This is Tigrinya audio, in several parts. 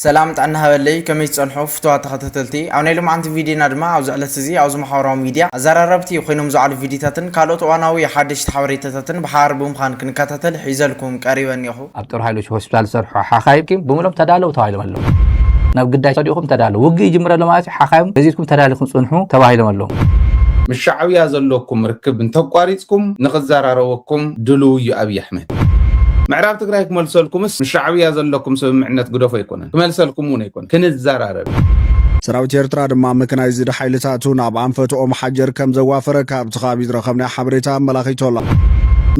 ሰላም ጥዕና ሃበለይ ከመይ ትጸንሑ ፍቱዋት ተኸታተልቲ ኣብ ናይ ሎምዓንቲ ቪድዮና ድማ ኣብዚ ዕለት እዚ ኣብዚ ማሕበራዊ ሚድያ ኣዛራረብቲ ኮይኖም ዝውዓሉ ቪድዮታትን ካልኦት እዋናዊ ሓደሽቲ ሓበሬታታትን ብሓባር ብምዃን ክንከታተል ሒዘልኩም ቀሪበ እኔኹ። ኣብ ጦር ሓይሎች ሆስፒታል ዝሰርሑ ሓኻይም ብምሎም ተዳለው ተባሂሎም ኣለው። ናብ ግዳይ ተዲኹም ተዳለው ውግእ ይጅምር ኣሎ ማለት እዩ ሓኻይም ገዚትኩም ተዳሊኹም ጽንሑ ተባሂሎም ኣለው። ምስ ሻዕብያ ዘለኩም ርክብ እንተቋሪጽኩም ንክዘራረበኩም ድሉው እዩ ኣብይ ኣሕመድ። ምዕራብ ትግራይ ክመልሰልኩምስ ምስ ሻዕብያ ዘለኩም ስምምዕነት ግደፎ ኣይኮነን ክመልሰልኩም እውን ኣይኮነን ክንዘራረብ ኢና። ሰራዊት ኤርትራ ድማ መከናይዝድ ሓይልታቱ ናብ ኣንፈት ኦም ሓጀር ከም ዘዋፈረ ካብቲ ከባቢ ዝረኸብናዮ ሓበሬታ ኣመላኺቱ ኣሎ።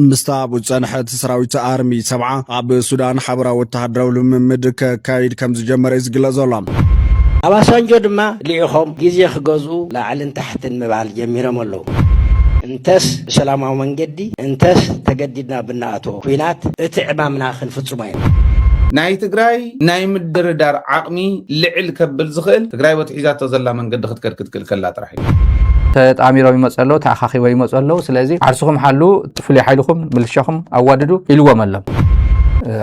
ምስታ ኣብኡ ዝጸንሐት ሰራዊት ኣርሚ ሰብዓ ኣብ ሱዳን ሓበራዊ ወተሃደራዊ ልምምድ ከካይድ ከም ዝጀመረ እዩ ዝግለጽ ዘሎ። ኣባሳንጆ ድማ ልኢኾም ግዜ ክገዝኡ ላዕልን ታሕትን ምባል ጀሚሮም ኣለዉ። እንተስ ብሰላማዊ መንገዲ እንተስ ተገዲድና ብናኣትዎ ኩናት እቲ ዕማምና ክንፍፅሞ ኢና። ናይ ትግራይ ናይ ምድርዳር ዓቕሚ ልዕል ከብል ዝኽእል ትግራይ በቲ ሒዛቶ ዘላ መንገዲ ክትከድ ክትክእል ከላ ጥራሕ እዩ። ተጣሚሮም ይመፁ ኣለው፣ ተኣኻኺቦም ይመፁ ኣለው፣ ስለዚ ዓርስኹም ሓልዉ፣ ፍሉይ ሓይልኹም ምልሻኹም ኣዋድዱ ኢልዎም ኣሎ።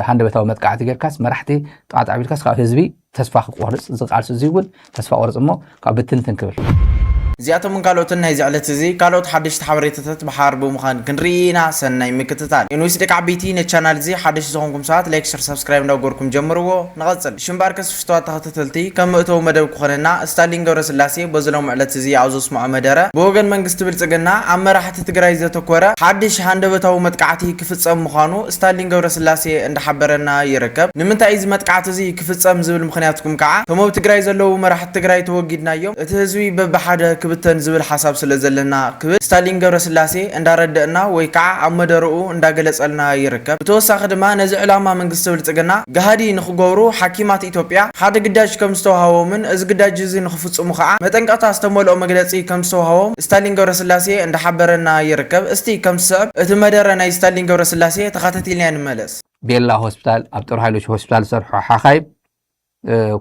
ሃንደበታዊ መጥቃዕቲ ጌርካስ መራሕቲ ጥቓጥቕ ኣቢልካስ ካብ ህዝቢ ተስፋ ክቆርጽ እዚ ቃልሲ እዚ እውን ተስፋ ቆርጽ እሞ ካብ ብትንትን ክብል። እዚኣቶምን ካልኦትን ናይዚ ዕለት እዚ ካልኦት ሓደሽቲ ሓበሬታታት ብሓባር ብምዃን ክንርኢ ኢና ሰናይ ምክትታል። ኤንዊስ ደቂ ዓበይቲ ነቲ ቻናል እዚ ሓደሽቲ ዝኾንኩም ሰባት ላይክ ሸር ሳብስክራይብ እንዳገበርኩም ጀምርዎ። ንቐጽል። ሽም ባርከስ ፍቱዋት ተኸታተልቲ ከም መእተዊ መደብ ክኾነና እስታሊን ገብረስላሴ በዚ ሎሚ ዕለት እዚ ኣብ ዘስምዖ መደረ ብወገን መንግስቲ ብልጽግና ኣብ መራሕቲ ትግራይ ዘተኮረ ሓድሽ ሃንደበታዊ መጥቃዕቲ ክፍጸም ምዃኑ ስታሊን ገብረስላሴ እንዳሓበረና ይርከብ። ንምንታይ እዚ መጥቃዕቲ እዚ ክፍፀም ዝብል ምኽንያትኩም ከዓ እቶም ኣብ ትግራይ ዘለዉ መራሕቲ ትግራይ ተወጊድናዮም እቲ ህዝቢ በብሓደ ክብተን ዝብል ሓሳብ ስለዘለና ክብል ስታሊን ገብረስላሴ እንዳረደእና ወይ ከዓ ኣብ መደረኡ እንዳገለፀልና ይርከብ። ብተወሳኺ ድማ ነዚ ዕላማ መንግስቲ ብልፅግና ገሃዲ ንኽገብሩ ሓኪማት ኢትዮጵያ ሓደ ግዳጅ ከምዝተውሃቦምን እዚ ግዳጅ እዚ ንኽፍፅሙ ከዓ መጠንቀቕታ ዝተመልኦ መግለፂ ከምዝተውሃቦም ስታሊን ገብረስላሴ እንዳሓበረና ይርከብ። እስቲ ከም ዝስዕብ እቲ መደረ ናይ ስታሊን ገብረስላሴ ተኻታቲልና ንመለስ። ቤላ ሆስፒታል ኣብ ጦር ሃይሎች ሆስፒታል ዝሰርሑ ሓኻይም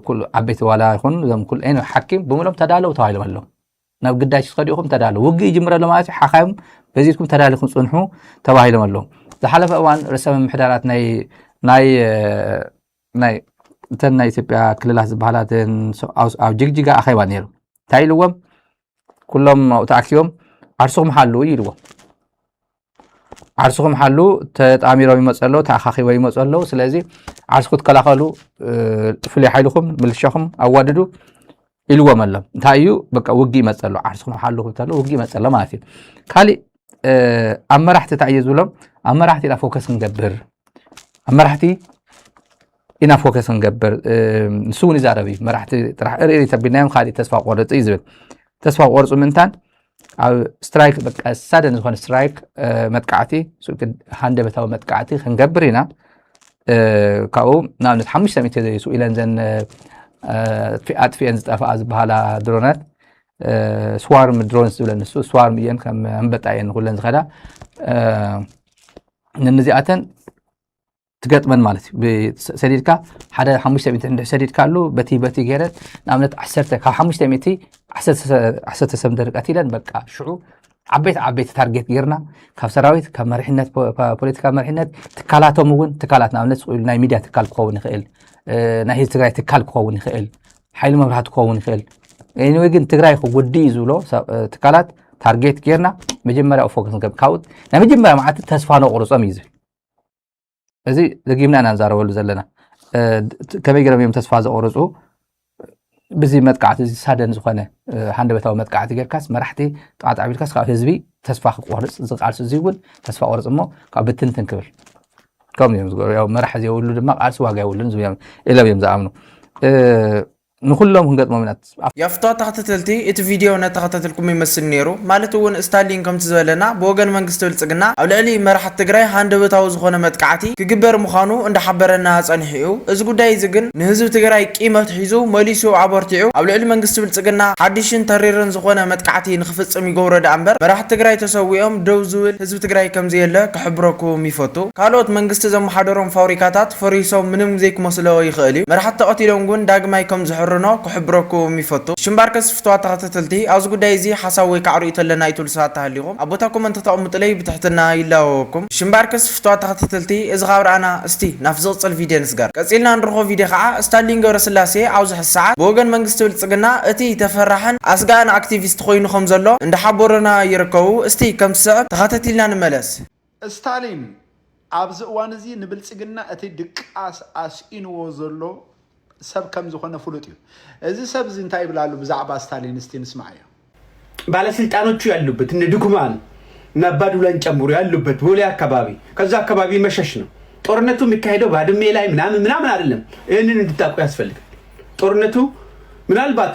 ኩሉ ዓበይቲ ዋላ ይኹን እዞም ኩሉ ኤኒ ሓኪም ብምሎም ተዳለው ተባሂሎም ኣለዉ ናብ ግዳጅ ትኸዱ ኢኹም ተዳለው ውግእ ይጅምር ኣሎ ማለት እዩ ሓኻይም በዚትኩም ተዳሊኹም ፅንሑ ተባሂሎም ኣለዉ ዝሓለፈ እዋን ርእሰ ምምሕዳራት ናይ ናይ ናይ እተን ናይ ኢትዮጵያ ክልላት ዝበሃላትን ኣብ ጅግጅጋ ኣኼባ ነይሩ እንታይ ኢልዎም ኩሎም ኣብኡ ተኣኪቦም ዓርስኹም ሓሉ እዩ ኢልዎም ዓርስኹም ሓሉ ተጣሚሮም ይመፅ ኣለዉ ተኣኻኺቦ ይመፁ ኣለዉ ስለዚ ዓርስ ክትከላኸሉ ፍሉይ ሓይልኹም ምልሻኹም ኣዋድዱ ኢልዎም ኣሎ እንታይ እዩ በቃ ውጊ ይመፅ ኣሎ ዓርስኹም ሓሉ ክብተሎ ውጊ ይመፅ ኣሎ ማለት እዩ ካሊእ ኣብ መራሕቲ እንታይ እዩ ዝብሎም ኣብ መራሕቲ ኢና ፎከስ ክንገብር ኣብ መራሕቲ ኢና ፎከስ ክንገብር ንሱ እውን ይዛረብ እዩ መራሕቲ ጥራሕ እርኢ ተቢልናዮም ካሊእ ተስፋ ቆርፅ እዩ ዝብል ተስፋ ቆርፁ ምንታን ኣብ ስትራይክ በቃ ሳደን ዝኾነ ስትራይክ መጥቃዕቲ ሃንደበታዊ መጥቃዕቲ ክንገብር ኢና ካብኡ ንኣብነት ሓሙሽተ ሚእቲ ዘይሱ ኢለን ዘን ኣጥፊኤን ዝጠፍኣ ዝበሃላ ድሮናት ስዋርም ድሮንስ ዝብለን ንሱ ስዋርም እየን ከም ኣንበጣ እየን ንኩለን ዝኸዳ ነንዚኣተን ትገጥመን ማለት እዩ ሰዲድካ ሓደ ሓሙሽተ ሚእቲ እንድሕ ሰዲድካ ኣሉ በቲ በቲ ገይረን ንኣብነት ዓሰርተ ካብ ሓሙሽተ ሚእቲ ዓሰርተ ሰብ ደርቀት ኢለን በቃ ሽዑ ዓበይቲ ዓበይቲ ታርጌት ጌርና ካብ ሰራዊት ካብ መሪሕነት ፖለቲካ መሪሕነት ትካላቶም እውን ትካላት ንኣብነት ናይ ሚድያ ትካል ክኸውን ይኽእል ናይ ህዝቢ ትግራይ ትካል ክኸውን ይኽእል ሓይሊ መብራህቲ ክኸውን ይኽእል ወይ ግን ትግራይ ክጉዲ እዩ ዝብሎ ትካላት ታርጌት ጌርና መጀመርያ ፎከስ ካብኡ ናይ መጀመርያ መዓልቲ ተስፋ ነቑርፆም እዩ ዝብል እዚ ደጊምና ኢና ንዛረበሉ ዘለና ከመይ ገይሮም እዮም ተስፋ ዘቑርፁ ብዚ መጥቃዕቲ እዚ ሳደን ዝኾነ ሃንደበታዊ መጥቃዕቲ ጌርካስ መራሕቲ ጥቓ ጣዕቢልካስ ካብ ህዝቢ ተስፋ ክቆርፅ እዚ ቃልሲ እዚ እውን ተስፋ ቆርፅ እሞ ካብ ብትንትን ክብል ከምኡ እዮም ዝገብሩ መራሒ ዘይብሉ ድማ ቃልሲ ዋጋ የብሉን ኢሎም እዮም ዝኣምኑ ንኹሎም ክንገጥሞም ኢና። ያፍቶ ተክትትልቲ እቲ ቪድዮ ነተከታተልኩሞ ይመስል ነይሩ ማለት እውን እስታሊን ከምቲ ዝበለና ብወገን መንግስቲ ብልፅግና ኣብ ልዕሊ መራሕቲ ትግራይ ሃንደበታዊ ዝኾነ መጥቃዕቲ ክግበር ምዃኑ እንዳሓበረና ፀኒሑ እዩ እዚ ጉዳይ እዚ ግን ንህዝቢ ትግራይ ቂም ኣትሒዙ መሊሱ ኣበርቲዑ ኣብ ልዕሊ መንግስቲ ብልፅግና ሓዱሽን ተሪርን ዝኾነ መጥቃዕቲ ንክፍፅም ይገብሮ ደኣምበር መራሕቲ ትግራይ ተሰዊኦም ደው ዝብል ህዝቢ ትግራይ ከምዘየለ ክሕብረኩም ይፈቱ ካልኦት መንግስቲ ዘመሓደሮም ፋውሪካታት ፈሪሶም ምንም ዘይክመስሎ ይክእል እዩ መራሕቲ ተቀቲሎም ግን ዳግማይ ከም ዝሕርኖ ክሕብረኩም ይፈቱ እሺ እምበኣርከስ ፍትዋት ተከታተልቲ ኣብዚ ጉዳይ እዚ ሓሳብ ወይ ከዓ ርእይቶ ኣለና ኢትብሉ ሰባት ተሃሊኩም ኣብ ቦታ ኮመንት ክተቅምጡለይ ብትሕትና ይላወወኩም እሺ እምበኣርከስ ፍትዋት ተከታተልቲ እዚ ካብ ረኣና እስቲ ናብቲ ዝቅፅል ቪድዮ ንስገር ቀፂልና ንረክቦ ቪድዮ ከዓ እስታሊን ገብረስላሴ ኣብዚ ሕዚ ሰዓት ብወገን መንግስቲ ብልፅግና እቲ ተፈራሕን ኣስጋእን ኣክቲቪስት ኮይኑ ከም ዘሎ እንዳሓበሩና ይርከቡ። እስቲ ከም ዝስዕብ ተኻተቲልና ንመለስ። እስታሊን ኣብዚ እዋን እዚ ንብልፅግና እቲ ድቃስ ኣስኢንዎ ዘሎ ሰብ ከም ዝኾነ ፍሉጥ እዩ። እዚ ሰብ እዚ እንታይ ይብል ኣሎ ብዛዕባ እስታሊን እስቲ ንስምዓዮ። ባለስልጣኖቹ ያሉበት እነ ድኩማን እነ አባዱላን ጨምሮ ያሉበት ቦሌ አካባቢ ከዛ አካባቢ መሸሽ ነው። ጦርነቱ የሚካሄደው ባድሜ ላይ ምናምን ምናምን አይደለም። ይህንን እንድታውቁ ያስፈልጋል። ጦርነቱ ምናልባት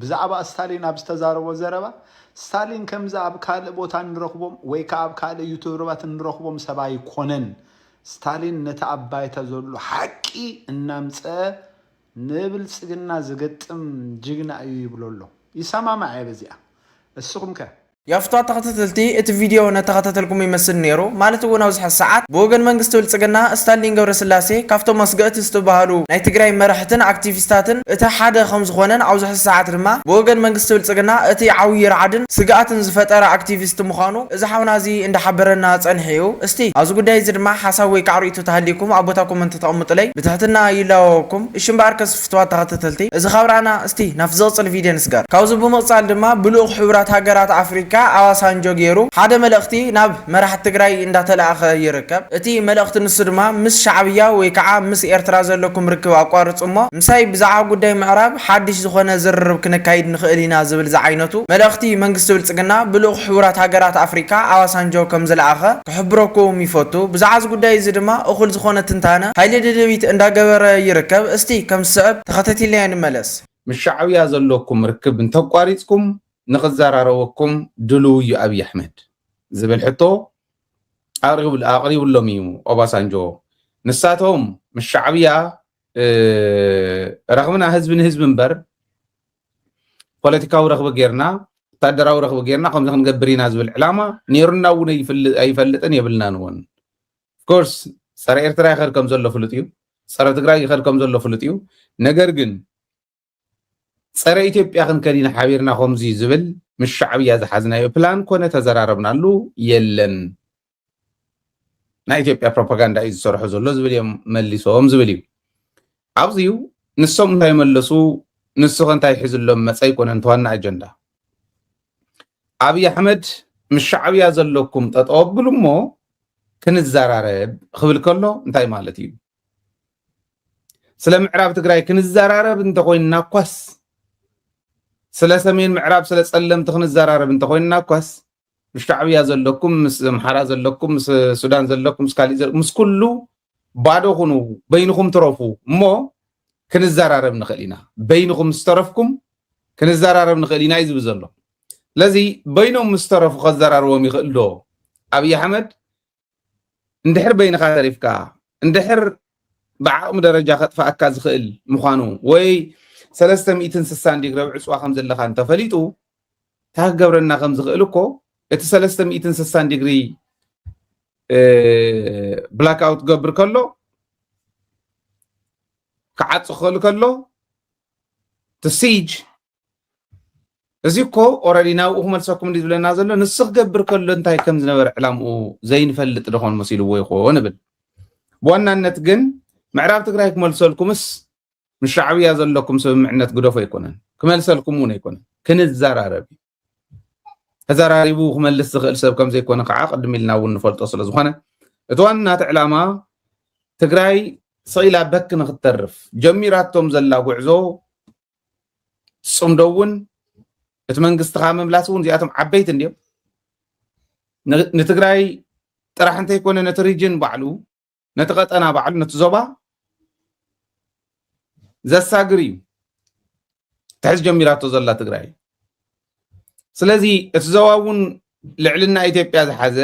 ብዛዕባ ስታሊን ኣብ ዝተዛረቦ ዘረባ፣ ስታሊን ከምዚ ኣብ ካልእ ቦታ እንረኽቦም ወይ ከኣ ኣብ ካልእ ዩቱብርባት እንረኽቦም ሰብ ኣይኮነን። ስታሊን ነቲ ኣብ ባይታ ዘሎ ሓቂ እናምጸኣ ንብልጽግና ዝገጥም ጅግና እዩ ይብሎ ኣሎ። ይሰማማዕ እየ በዚኣ። እስኹም ከ? ያፍታ ተኸታተልቲ እቲ ቪድዮ ነተኸታተልኩም ይመስል ነይሩ ማለት እውን ኣብዝሐ ሰዓት ብወገን መንግስቲ ብልፅግና እስታሊን ገብረስላሴ ካብቶም ኣስገእቲ ዝትብሃሉ ናይ ትግራይ መራሕትን ኣክቲቪስታትን እቲ ሓደ ከምዝኾነን ኣብዝሐ ሰዓት ድማ ብወገን መንግስቲ ብልፅግና እቲ ዓውዪ ራዕድን ስግኣትን ዝፈጠረ ኣክቲቪስት ምዃኑ እዚ ሓውና እዚ እንዳሓበረና ፀንሐ እዩ እስቲ ኣብዚ ጉዳይ እዚ ድማ ሓሳብ ወይካዓ ሪኢቶ ተሃልይኩም ኣብ ቦታ ኮመንት ተቐምጡለይ ብትሕትና ይላወወኩም እሺ እምበኣርከስ ፍትዋት ተኸታተልቲ እዚ ካብራና እስቲ ናብቲ ዝቕጽል ቪድዮ ንስገር። ካብዚ ብምቕጻል ድማ ብልኡኽ ሕቡራት ሃገራት ኣፍሪካ ኣባሳንጆ ጌሩ ሓደ መልእኽቲ ናብ መራሕቲ ትግራይ እንዳተላእኸ ይርከብ። እቲ መልእኽቲ ንሱ ድማ ምስ ሻዕብያ ወይ ከዓ ምስ ኤርትራ ዘለኩም ርክብ ኣቋርጹ እሞ ምሳይ ብዛዕባ ጉዳይ ምዕራብ ሓድሽ ዝኾነ ዝርርብ ክነካይድ ንኽእል ኢና ዝብል ዝዓይነቱ መልእኽቲ መንግስቲ ብልጽግና ብልኡኽ ሕቡራት ሃገራት ኣፍሪካ ኣባሳንጆ ከምዝለኣኸ ክሕብረኩም ይፈቱ ብዛዕባ እዚ ጉዳይ እዚ ድማ እኹል ዝኾነ ትንታነ ሃይለ ደደቢት እንዳገበረ ይርከብ እስቲ ከም ዝስዕብ ተኸታቲልናዮ ንመለስ። ምስ ሻዕብያ ዘለኩም ርክብ እንተቋሪጽኩም ንኽዘራረበኩም ድሉው እዩ ኣብይ ኣሕመድ ዝብል ሕቶ ኣቕሪብሎም እዩ ኦባሳንጆ ንሳቶም ምስ ሻዕብያ ረኽብና ህዝቢ ንህዝቢ እምበር ፖለቲካዊ ረኽቢ ጌርና ወታደራዊ ረኽቢ ጌርና ከምዚ ክንገብር ኢና ዝብል ዕላማ ነይሩና እውን ኣይፈልጥን የብልናን እውን ኮርስ ፀረ ኤርትራ ይኸድ ከም ዘሎ ፍሉጥ እዩ ፀረ ትግራይ ይኸድ ከም ዘሎ ፍሉጥ እዩ ነገር ግን ፀረ ኢትዮጵያ ክንከድ ኢና ሓቢርና ከምዚ ዝብል ምስ ሻዕብያ ዝሓዝናዮ ፕላን ኮነ ተዘራረብናሉ የለን ናይ ኢትዮጵያ ፕሮፓጋንዳ እዩ ዝሰርሖ ዘሎ ዝብል እዮም መሊሶም ዝብል እዩ ኣብዚ እዩ ንሶም እንታይ መለሱ ንስኸ እንታይ ሒዝሎም መፀ ኣይኮነን ተዋና ኣጀንዳ ኣብይ ኣሕመድ ምስ ሻዕብያ ዘለኩም ጠጠው ኣብሉ እሞ ክንዘራረብ ክብል ከሎ እንታይ ማለት እዩ ስለ ምዕራብ ትግራይ ክንዘራረብ እንተኮይንና እኳስ ስለ ሰሜን ምዕራብ ስለ ፀለምቲ ክንዘራረብ እንተኮይንና እኳስ ምስ ሻዕብያ ዘለኩም ምስ ዘምሓራ ዘለኩም ምስ ሱዳን ዘለኩም ምስ ካሊእ ዘለኩም ምስ ኩሉ ባዶ ኩኑ በይንኹም ትረፉ እሞ ክንዘራረብ ንኽእል ኢና በይንኹም ምስ ተረፍኩም ክንዘራረብ ንኽእል ኢና እዩ ዝብል ዘሎ ስለዚ በይኖም ምስ ተረፉ ከዘራርቦም ይኽእል ዶ ኣብዪ ኣሕመድ እንድሕር በይንኻ ተሪፍካ እንድሕር ብዓቕሚ ደረጃ ከጥፍኣካ ዝኽእል ምዃኑ ወይ ሰለስተ ሚእትን ስሳን ዲግሪ ዕፅዋ ከም ዘለካ እንተፈሊጡ እንታይ ክገብረና ከም ዝኽእል እኮ እቲ ሰለስተ ሚእትን ስሳን ዲግሪ ብላክ ኣውት ገብር ከሎ ክዓፅ ክኽእል ከሎ እቲ ሲጅ እዚ እኮ ኦረዲ ናብኡ ክመልሰኩም እንዲ ዝብለና ዘሎ ንሱ ክገብር ከሎ እንታይ ከም ዝነበረ ዕላምኡ ዘይንፈልጥ ደኾን መሲልዎ ይኾን እብል ብዋናነት ግን ምዕራብ ትግራይ ክመልሰልኩምስ ምስ ሻዕብያ ዘለኩም ስምምዕነት ግደፎ ኣይኮነን ክመልሰልኩም እውን ኣይኮነን ክንዘራረብ እዩ ተዘራሪቡ ክመልስ ዝኽእል ሰብ ከም ዘይኮነ ከዓ ቅድም ኢልና እውን ንፈልጦ ስለ ዝኾነ እቲ ዋናት ዕላማ ትግራይ ስኢላ በክ ንክተርፍ ጀሚራቶም ዘላ ጉዕዞ ፅምዶ እውን እቲ መንግስቲ ካብ ምምላስ እውን እዚኣቶም ዓበይቲ እንዲዮም ንትግራይ ጥራሕ እንተይኮነ ነቲ ሪጅን ባዕሉ ነቲ ቀጠና ባዕሉ ነቲ ዞባ ዘሳግር እዩ ትሕዚ ጀሚራቶ ዘላ ትግራይ ስለዚ እቲ ዞባ እውን ልዕልና ኢትዮጵያ ዝሓዘ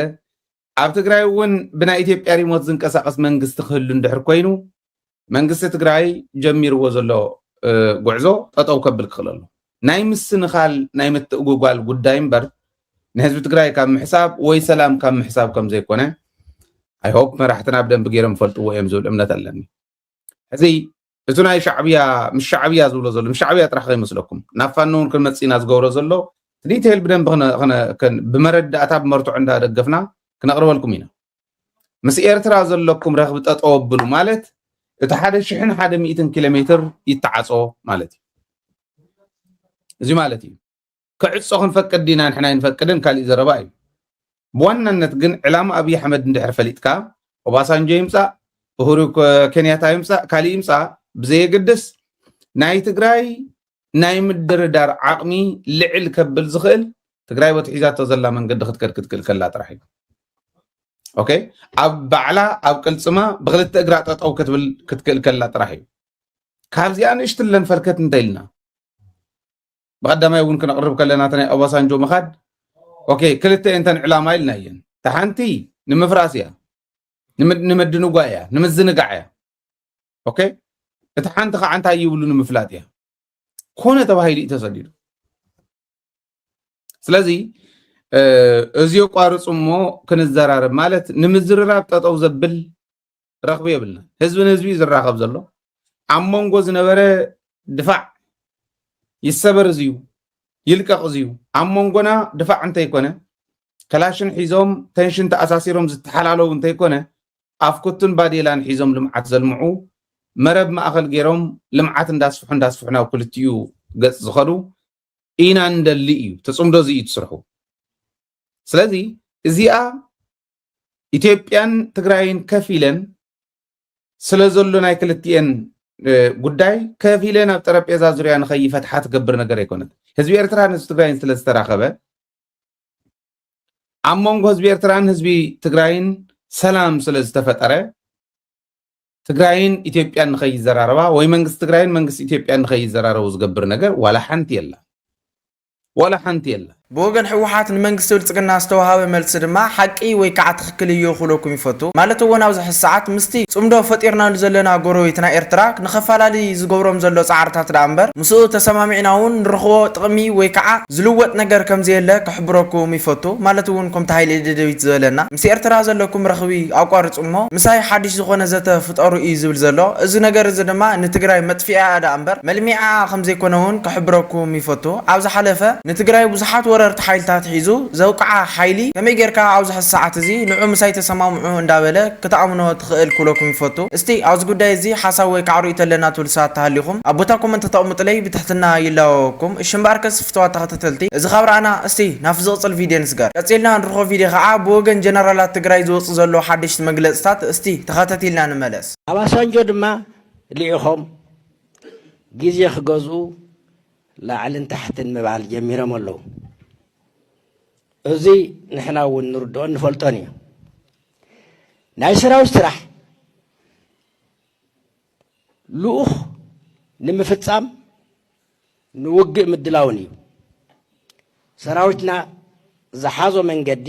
ኣብ ትግራይ እውን ብናይ ኢትዮጵያ ሪሞት ዝንቀሳቐስ መንግስቲ ክህሉ እንድሕር ኮይኑ መንግስቲ ትግራይ ጀሚርዎ ዘሎ ጉዕዞ ጠጠው ከብል ክኽእል ኣሎ። ናይ ምስንኻል ናይ ምትእጉጓል ጉዳይ እምበር ንህዝቢ ትግራይ ካብ ምሕሳብ ወይ ሰላም ካብ ምሕሳብ ከም ዘይኮነ ኣይሆፕ መራሕትና ብደንቢ ገይሮም ይፈልጥዎ እዮም ዝብል እምነት ኣለኒ። ሕዚ እቲ ናይ ሻዕብያ ምስ ሻዕብያ ዝብሎ ዘሎ ምስ ሻዕብያ ጥራሕ ከይመስለኩም ናብ ፋኖ እውን ክንመፅእ ኢና ዝገብሮ ዘሎ ዲቴይል ብደንብ ብመረዳእታ ብመርትዖ እንዳደገፍና ክነቕርበልኩም ኢና ምስ ኤርትራ ዘለኩም ረኽቢ ጠጠው ኣብሉ ማለት እቲ ሓደ ሽሕን ሓደ ሚእትን ኪሎ ሜትር ይተዓፆ ማለት እዩ እዚ ማለት እዩ ክዕጾ ክንፈቅድ ዲና ንሕና ኣይንፈቅድን ካሊእ ዘረባ እዩ ብዋናነት ግን ዕላማ ኣብይ ኣሕመድ እንድሕር ፈሊጥካ ኦባሳንጆ ይምጻእ እሁሩ ኬንያታ ይምጻእ ካሊእ ይምጻእ ብዘየገድስ ናይ ትግራይ ናይ ምድርዳር ዓቕሚ ልዕል ከብል ዝኽእል ትግራይ ወትሒዛቶ ዘላ መንገዲ ክትከድ ክትክእል ከላ ጥራሕ እዩ ኦኬ ኣብ ባዕላ ኣብ ቅልፅማ ብክልተ እግራ ጠጠው ክትብል ክትክእል ከላ ጥራሕ እዩ ካብዚኣ ንእሽትለን ፈልከት እንተኢልና ብቀዳማይ እውን ክነቅርብ ከለና እታ ናይ ኦባሳንጆ ምኻድ ኦኬ ክልተ እየን ተን ዕላማ ኢልና እየን እታ ሓንቲ ንምፍራስ እያ ንምድንጓይ እያ ንምዝንጋዕ እያ ኦኬ እቲ ሓንቲ ከዓ እንታይ ይብሉ ንምፍላጥ እያ ኮነ ተባሂሉ እዩ ተሰዲዱ ስለዚ እዚ የቋርፁ እሞ ክንዘራረብ ማለት ንምዝርራብ ጠጠው ዘብል ረኽቢ የብልናን ህዝቢ ንህዝቢ እዩ ዝራኸብ ዘሎ ኣብ መንጎ ዝነበረ ድፋዕ ይሰበር እዚዩ ይልቀቕ እዚዩ ኣብ መንጎና ድፋዕ እንተይኮነ ከላሽን ሒዞም ተንሽን ተኣሳሲሮም ዝተሓላለዉ እንተይኮነ ኣፍኩትን ባዴላን ሒዞም ልምዓት ዘልምዑ መረብ ማእኸል ገይሮም ልምዓት እንዳስፍሑ እንዳስፍሑ ናብ ክልቲኡ ገፅ ዝኸዱ ኢና እንደሊ እዩ ተፅምዶ እዚ እዩ ትስርሑ ስለዚ እዚኣ ኢትዮጵያን ትግራይን ከፍ ኢለን ስለ ዘሎ ናይ ክልቲኤን ጉዳይ ከፍ ኢለን ኣብ ጠረጴዛ ዙርያ ንኸይፈትሓ ትገብር ነገር ኣይኮነት ህዝቢ ኤርትራን ህዝቢ ትግራይን ስለ ዝተራኸበ ኣብ መንጎ ህዝቢ ኤርትራን ህዝቢ ትግራይን ሰላም ስለ ዝተፈጠረ ትግራይን ኢትዮጵያን ንኸይዘራረባ ወይ መንግስቲ ትግራይን መንግስቲ ኢትዮጵያን ንኸይዘራረቡ ዝገብር ነገር ዋላ ሓንቲ የላ ዋላ ሓንቲ የላን። ብወገን ህወሓት ንመንግስቲ ብልፅግና ዝተውሃበ መልሲ ድማ ሓቂ ወይ ከዓ ትኽክል እዩ ክብለኩም ይፈቱ። ማለት እውን ኣብዚ ሕዚ ሰዓት ምስቲ ፅምዶ ፈጢርናሉ ዘለና ጎረቤትና ኤርትራ ንኸፋላሊ ዝገብሮም ዘሎ ፃዕርታት ድኣ እምበር ምስኡ ተሰማሚዕና እውን ንረኽቦ ጥቕሚ ወይ ከዓ ዝልወጥ ነገር ከምዘየለ ክሕብረኩም ይፈቱ። ማለት እውን ከምቲ ሃይለ ደደቢት ዝበለና ምስ ኤርትራ ዘለኩም ረኽቢ ኣቋርጹ እሞ ምሳይ ሓድሽ ዝኾነ ዘተ ፍጠሩ ኢዩ ዝብል ዘሎ። እዚ ነገር እዚ ድማ ንትግራይ መጥፊኢኣ ደኣ እምበር መልሚዒኣ ከም ዘይኮነ ውን ክሕብረኩም ይፈቱ። ኣብ ዝሓለፈ ንትግራይ ብዙሓት ወረርቲ ሓይልታት ሒዙ ዘውቅዓ ሓይሊ ከመይ ጌርካ ኣብዚ ሕዚ ሰዓት እዚ ንዑ ምሳይ ተሰማምዑ እንዳበለ ክትኣምኖ ትኽእል ክብለኩም ይፈቱ። እስቲ ኣብዚ ጉዳይ እዚ ሓሳብ ወይ ከዓ ርእይቶ ኣለና ትብሉ ሰባት ተሃሊኹም ኣብ ቦታ ኮመንት ተቅምጡለይ ብትሕትና ይላበበኩም። እሺ እምበኣርከስ ፍተዋት ተኸታተልቲ። ተኸታተልቲ እዚ ካብ ራኣና እስቲ ናብቲ ዝቕጽል ቪድዮ ንስገር ቀጺልና ንርኾ ቪድዮ ካኣ ብወገን ጀነራላት ትግራይ ዝወጽእ ዘሎ ሓደሽቲ መግለጽታት እስቲ ተኸታቲልና ንመለስ። ኣባሳንጆ ድማ ሊኢኾም ግዜ ክገዝኡ ላዕልን ታሕትን ምባል ጀሚሮም ኣለው እዙይ ንሕና እውን ንርድኦን ንፈልጦን እዩ ናይ ሰራዊት ስራሕ ልኡኽ ንምፍፃም ንውግእ ምድላውን እዩ። ሰራዊትና ዝሓዞ መንገዲ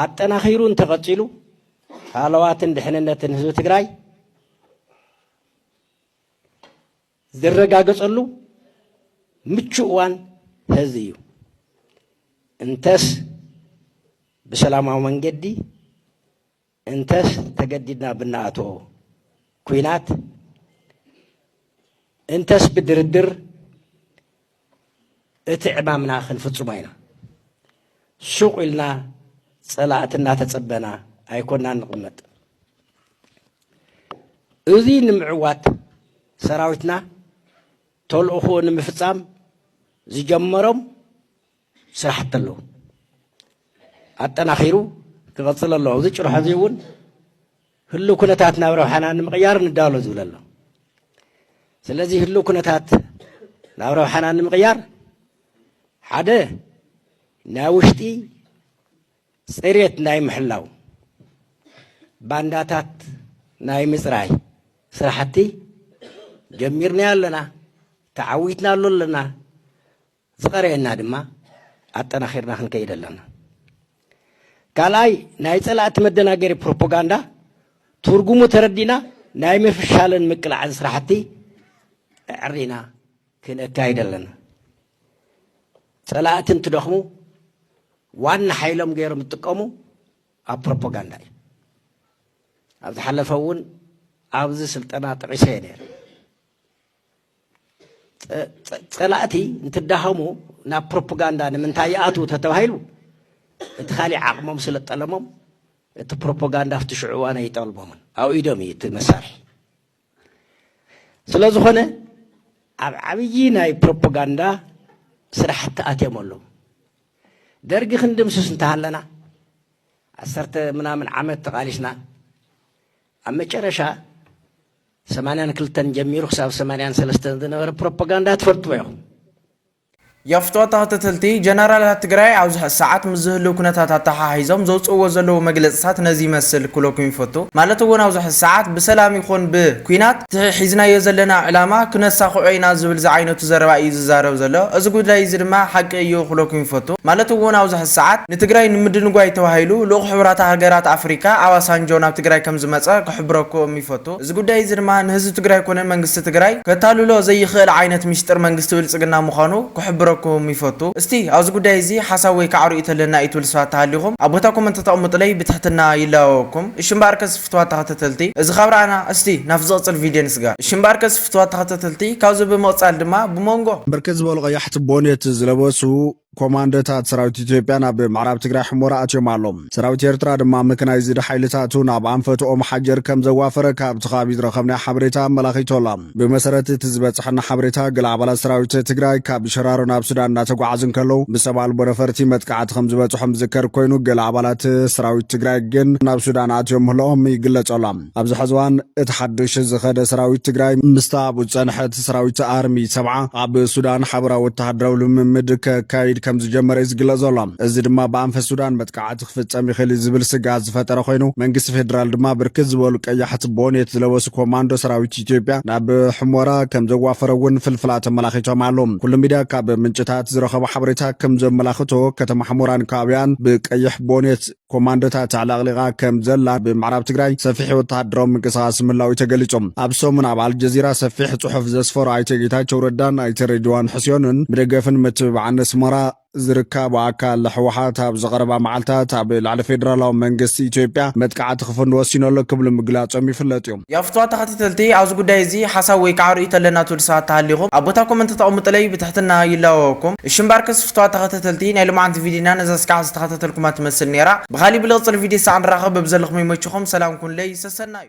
ኣጠናኺሩ እንተቐፂሉ ሃለዋትን ድሕንነትን ህዝቢ ትግራይ ዝረጋገፀሉ ምቹእ እዋን ህዚ እዩ። እንተስ ብሰላማዊ መንገዲ እንተስ ተገዲድና ብናኣቶ ኩናት እንተስ ብድርድር እቲ ዕማምና ክንፍፅሞ ኢና። ሱቕ ኢልና ፀላእቲ እናተፀበና ኣይኮናን ንቕመጥ። እዚ ንምዕዋት ሰራዊትና ተልእኾኡ ንምፍፃም ዝጀመሮም ስራሕቲ ኣለዉ። ኣጠናኺሩ ክቐፅል ኣለዎ። ኣብዚ ጭርሖ እዚ እውን ህልው ኩነታት ናብ ረብሓና ንምቕያር ንዳሎ ዝብል ኣሎ። ስለዚ ህልው ኩነታት ናብ ረብሓና ንምቕያር ሓደ ናይ ውሽጢ ፅሬት ናይ ምሕላው ባንዳታት ናይ ምፅራይ ስራሕቲ ጀሚርና ኣለና ተዓዊትና ኣሎ ኣለና ዝቐረየና ድማ ኣጠናኺርና ክንከይድ ኣለና። ካልኣይ ናይ ፀላእቲ መደናገሪ ፕሮፓጋንዳ ትርጉሙ ተረዲና ናይ ምፍሻልን ምቅላዕን ስራሕቲ ኣዕሪና ክንካይድ ኣለና። ፀላእቲ እንትደኽሙ ዋና ሓይሎም ገይሮም ዝጥቀሙ ኣብ ፕሮፓጋንዳ እዩ። ኣብ ዝሓለፈ እውን ኣብዚ ስልጠና ጠቒሰ እየ ነይረ። ፀላእቲ እንትዳኸሙ ናብ ፕሮፓጋንዳ ንምንታይ ይኣትዉ ተተባሂሉ እቲ ካሊእ ዓቕሞም ስለ ጠለሞም እቲ ፕሮፓጋንዳ ኣብቲ ሽዑ እዋን ኣይጠልሞምን ኣብ ኢዶም እዩ እቲ መሳርሒ ስለ ዝኾነ ኣብ ዓብዪ ናይ ፕሮፓጋንዳ ስራሕቲ ኣትዮም ኣለዉ ደርጊ ክንድምስስ እንተሃለና ዓሰርተ ምናምን ዓመት ተቓሊስና ኣብ መጨረሻ ሰማንያን ክልተን ጀሚሩ ክሳብ ሰማንያን ሰለስተን ዝነበረ ፕሮፖጋንዳ ትፈልጥዎ ኢኹም። የፍቶ ተኸተተልቲ ጀነራላት ትግራይ ኣብዚ ሕዚ ሰዓት ምስ ዝህልው ኩነታት ኣተሓሒዞም ዘውፅእዎ ዘለው መግለፅታት ነዚ ይመስል ክብለኩም ይፈቱ። ማለት እውን ኣብዚ ሕዚ ሰዓት ብሰላም ይኹን ብኲናት እቲ ሒዝናዮ ዘለና ዕላማ ክነሳኽዖ ኢና ዝብል ዝዓይነቱ ዘረባ እዩ ዝዛረብ ዘሎ። እዚ ጉዳይ እዚ ድማ ሓቂ እዩ ክብለኩም ይፈቱ። ማለት እውን ኣብዚ ሕዚ ሰዓት ንትግራይ ንምድንጓይ ተባሂሉ ልኡኽ ሕቡራት ሃገራት ኣፍሪካ ኣባሳንጆ ናብ ትግራይ ከምዝመፀ ክሕብረኩም ይፈቱ። እዚ ጉዳይ እዚ ድማ ንህዝቢ ትግራይ ኮነ መንግስቲ ትግራይ ከታልሎ ዘይኽእል ዓይነት ሚስጥር መንግስቲ ብልፅግና ምዃኑ ክሕብረኩም ይፈቱ። እስቲ ኣብዚ ጉዳይ እዚ ሓሳብ ወይ ከዓ ርእይቶ ኣለና ኢትብሉ ስባት ተሃሊኹም ኣብ ቦታ ኮመንት ተተቕምጡለይ ብትሕትና ይላበበኩም። እሺ እምበኣርከስ ፍትዋት ተኸተተልቲ እዚ ካብ ረኣና እስቲ ናብቲ ዝቕፅል ቪድዮ ንስጋር። እሺ እምበኣርከስ ፍትዋት ተኸተተልቲ ካብዚ ብምቕፃል ድማ ብሞንጎ። ብርክት ዝበሉ ቀያሕቲ ቦኔት ዝለበሱ ኮማንዶታት ሰራዊት ኢትዮጵያ ናብ ምዕራብ ትግራይ ሕሞራ ኣትዮም ኣሎም። ሰራዊት ኤርትራ ድማ መከናይዝድ ሓይልታቱ ናብ ኣንፈት ኦም ሓጀር ከም ዘዋፈረ ካብቲ ከባቢ ዝረኸብናዮ ሓበሬታ ኣመላኺቱ ኣሎ። ብመሰረት እቲ ዝበፀሐና ሓበሬታ ገለ ኣባላት ሰራዊት ትግራይ ካብ ሸራሮ ናብ ሱዳን እናተጓዓዙ እንከለዉ ብሰብ ኣልቦ ነፈርቲ መጥቃዕቲ ከም ዝበፅሖም ዝዝከር ኮይኑ ገለ ኣባላት ሰራዊት ትግራይ ግን ናብ ሱዳን ኣትዮም ምህላኦም ይግለፅ ኣሎ። ኣብዚ ሐዚ እዋን እቲ ሓዱሽ ዝኸደ ሰራዊት ትግራይ ምስታ ኣብኡ ዝፀንሐ እቲ ሰራዊት ኣርሚ ሰብዓ ኣብ ሱዳን ሓበራዊ ወተሃደራዊ ልምምድ ከካይድ ከምዝጀመረ እዩ ዝግለፅ ዘሎ። እዚ ድማ ብኣንፈት ሱዳን መጥቃዕቲ ክፍፀም ይኽእል እዩ ዝብል ስግኣት ዝፈጠረ ኮይኑ መንግስቲ ፌዴራል ድማ ብርክት ዝበሉ ቀያሕቲ ቦኔት ዝለበሱ ኮማንዶ ሰራዊት ኢትዮጵያ ናብ ሑመራ ከምዘዋፈረ እውን ፍልፍላት ኣመላኺቶም ኣለው። ኩሉ ሚድያ ካብ ምንጭታት ዝረኸቦ ሓበሬታ ከምዘመላኽቶ ከተማ ሑመራን ከባቢኣን ብቀይሕ ቦኔት ኮማንዶታት ኣዕለቕሊቓ ከም ዘላ ብምዕራብ ትግራይ ሰፊሕ ወተሃደራዊ ምንቅስቓስ ምህላው'ዩ ተገሊጹ። ኣብ ሰሙን ኣብ ኣልጀዚራ ሰፊሕ ጽሑፍ ዘስፈሩ ኣይተ ጌታቸው ረዳን ኣይተ ሬድዋን ሕሴንን ብደገፍን ምትብባዕን ኣስመራ ዝርካቡ ኣካል ህወሓት ኣብዚ ቀረባ መዓልታት ኣብ ልዕሊ ፌደራላዊ መንግስቲ ኢትዮጵያ መጥቃዕቲ ክፍኑ ወሲኑ ኣሎ ክብሉ ምግላጾም ይፍለጥ'ዩ። ያፍትዋ ተኸታተልቲ ኣብዚ ጉዳይ እዚ ሓሳብ ወይ ካዓ ርእይቶ ኣለና ትብሉ ሰባት ተሃሊኹም ኣብ ቦታ ኮመንት ተቀምጡለይ ብትሕትና ይላወወኩም እሺ እምበኣርከስ ፍትዋት ተኸታተልቲ ናይ ሎማዓንቲ ቪድይና ነዛ እስካዕ ዝተኸታተልኩማ ትመስል ነይራ ብኻሊእ ብልቅፅል ቪድይ ሳዕ ንራኸብ በብዘለኹም ይመችኹም ሰላም ኩኑለይ ሰሰናዩ።